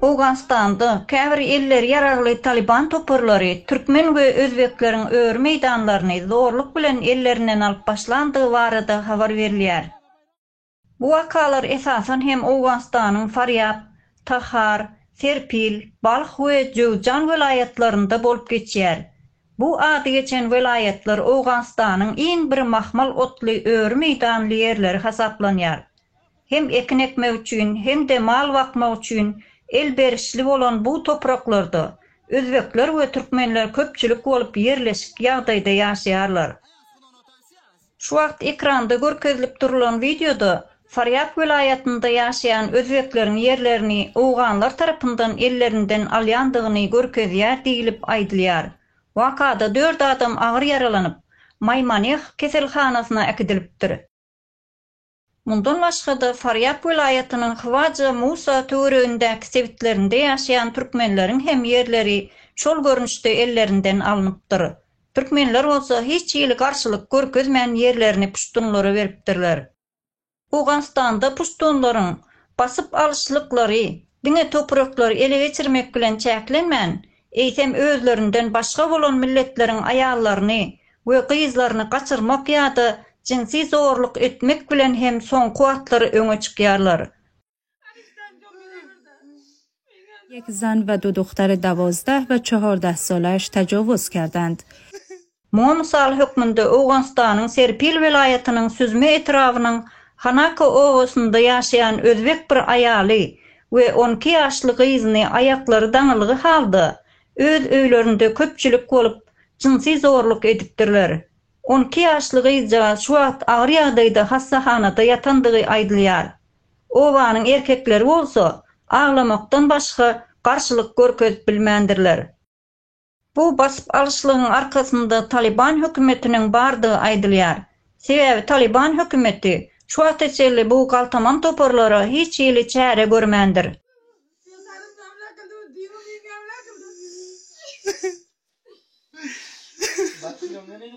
Owganystanda käbir elleri ýaragly Talyban toparlary türkmen we özbekleriň öri meýdanlaryny zorluk bilen ellerinden alyp başlandygy barada habar berilýär. Bu wakalar esasan hem Owganystanyň Farýab, Tahar, Serpil, Balh we Jöwzjan welaýatlarynda bolup geçýär. Bu ady geçen welaýatlar Owganystanyň iň bir mahmal otly öri meýdanly ýerleri hasaplanýar. Hem ekin ekmek üçin, hem-de mal bakmak üçin elberişli bolan bu topraklarda özbekler we türkmenler köpçülik bolup ýerleşik ýagdaýda ýaşaýarlar. Şu wagt ekranda görkezilip durlan wideoda Farýab welaýatynda ýaşaýan özbekleriň ýerlerini owganlar tarapyndan ellerinden alýandygyny görkezýär diýlip aýdylýar. Wakada dört adam agyr ýaralanyp, Maýmaneh keselhanasyna äkidilipdir. Mundan başga-da, Farýap welaýatynyň Hywaja Musa töweregindäki sebitlerinde ýaşaýan türkmenleriň hem ýerleri şol görnüşde ellerinden alnypdyr. Türkmenler bolsa hiç hili garşylyk görkezmän ýerlerini puştunlara beripdirler. Owganystanda puştunlaryň basyp alyşlyklary diňe topraklary ele geçirmek bilen çäklenmän, eýsem özlerinden başga bolan milletleriň aýallaryny we gyzlaryny gaçyrmak ýa-da jinsi zorluk etmek bilen hem soňky wagtlar öňe çykýarlar. Ýek zan we dudukdary dawozdah we çohordah zolaş tajowuzkerdand. Muňa mysal hökmünde Owganystanyň Serpil welaýatynyň Süzme etrabynyň Hanako obasynda ýaşaýan özbek bir aýaly we on iki ýaşly gyzyny aýaklary daňylgy halda öz öýlerinde köpçülik bolup jynsy zorluk edipdirler. On iki ýaşly gyzjagaz şu wagt agyr ýagdaýda hassahanada ýatandygy aýdylýar. Obanyň erkekleri bolsa aglamakdan başga garşylyk görkezip bilmändirler. Bu basyp alyşlygyň arkasynda Talyban hökümetiniň bardygy aýdylýar. Sebäbi Talyban hökümeti şu wagta çenli bu galtaman toparlara hiç hili çäre görmändir.